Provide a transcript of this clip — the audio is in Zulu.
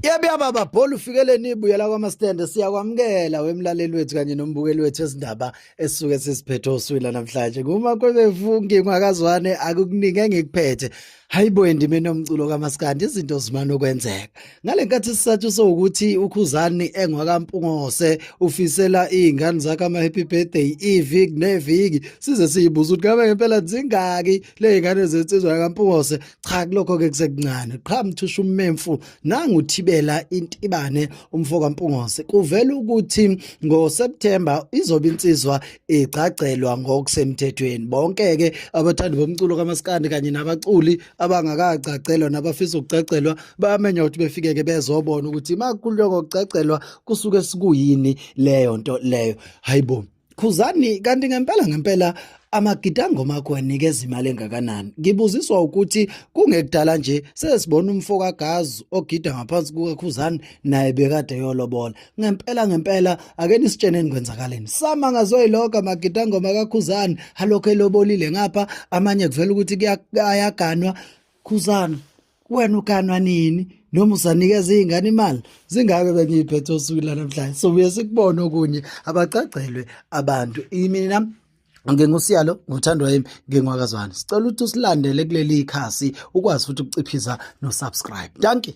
Yebiyaba babhola ufikeleni ibuyela kwamastende siyakwamukela wemlaleli wethu kanye nombukeli wethu ezindaba esisuke sisiphethe oswila namhlanje kuma kwebefungi ngwakazwane akukuningi engikuphethe hayibo endime nomculo kamaskandi izinto zimana ukwenzeka ngalenkathi sisathu sokuthi ukhuzani engwakampungose ufisela izingane zakhe ama happy birthday iviki neviki size siyibuza ukuthi ngabe ngempela zingaki lezingane zensizwa kampungose cha kulokho ke kusekuncane qha mthusha ummemfu nangu thibela intibane umfo kaMpungose kuvela ukuthi ngo September izobe insizwa igcagcelwa ngokusemthethweni bonke ke abathandi bomculo kamaskandi kanye nabaculi abangakagcagcelwa nabafisa ukugcagcelwa bayamenya ukuthi befike ke bezobona ukuthi makuloko ukugcagcelwa kusuke sikuyini leyo nto leyo hayibo Khuzani kanti ngempela ngempela amagidangoma akho anikeza imali engakanani ngibuziswa ukuthi kungekudala nje sesibona umfo kagazi ogida ngaphansi kukakhuzani naye bekade yolobola ngempela ngempela ake nisitsheneni kwenzakaleni sama ngazoyiloka amagidangoma kakhuzani halokho elobolile ngapha amanye kuvela ukuthi ayaganwa Khuzana wena uganwa nini noma usanikeza izingane imali zingake bengiyiphethe osuku lanamhlanje so buye sikubone okunye abacagcelwe abantu imina ngingusiyalo nguthandwa yimi ngingwakazwane sicela ukuthi usilandele kuleli khasi ukwazi futhi ukuciphiza no subscribe dankie